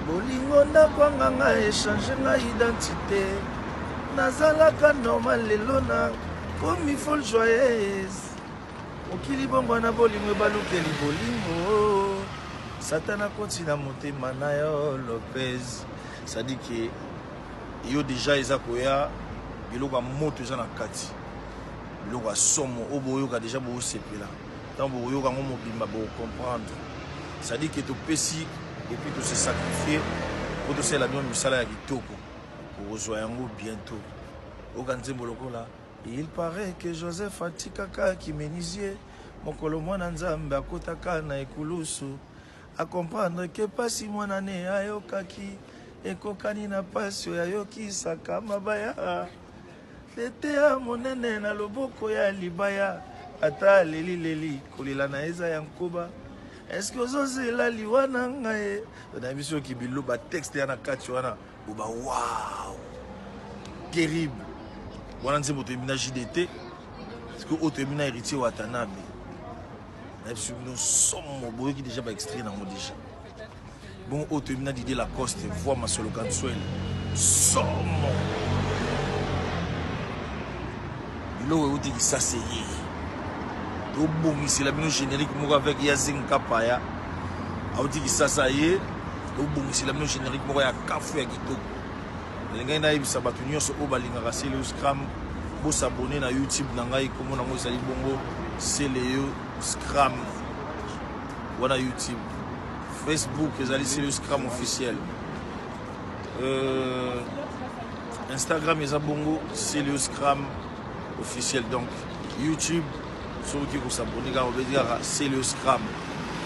bolingo ndako anganga echange nga identité nazalaka normal lelo na komi fol joyeuse mokili bongo na bolingo ebalukeli bolingo satana koti na motema na yo lopez sadike yo deja eza koya biloko ya moto eza na kati biloko ya somo oyo boyoka deja bosepela Tant vous yoka ngo mobimba bo comprendre. Ça dit que to pesi et puis to se sacrifier pour to sela bien misala ya kitoko. Okozwa yango bientôt. Oka nzembo lokola Il paraît que Joseph atikaka kimenisie mokolo mwana nzambe akotaka na ekulusu akomprendre ke mpasi mwana ne ayokaki ekokani na mpasi oyo ayokisaka mabaya Tetea monene na loboko ya libaya ata aleli leli kolela na eza ya nkoba eske ozozela liwa na ngai nayebi soki bilo batexte ya na kati wana boba wow terrible wana nzembo toyebi na jdt sikoyo oyo toyebi na héritier watanabe nayebi soki bino somo boyoki deja baextrait nango deja Bongo oyo toyebi na Didier Lacoste, voix Masolo Kansuel. Somo. Biloko euti kisase ye. Tobongisela bino générique moko avec Yazing Kapaya. Auti kisasa ye. Tobongisela bino générique moko ya kafu ya kitoko. Nalingaki nayebisa bato nyonso oyo balingaka Celeo Scram bosabone na YouTube na ngai, kombo nango ezali bongo Celeo Scram. wana youtube facebook ezali selo scram officiel euh, instagram eza bongo selo scram officiel donc youtube soki oki kosabone kaka obeti kaka selo scram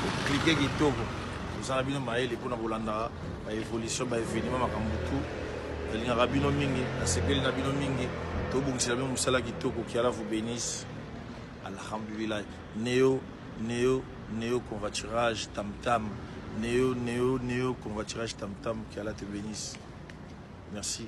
oklike kitoko oza na bino mayele mpona kolandaka baévolution baévénement makambo tout nalingaka bino mingi nasepeli na bino mingi tobongisela bino mosala kitoko kiala vous bénisse alhamdulilahi Neo neo neo convaturage tam tam neo neo neo convaturage tam tam que Allah te benisse merci.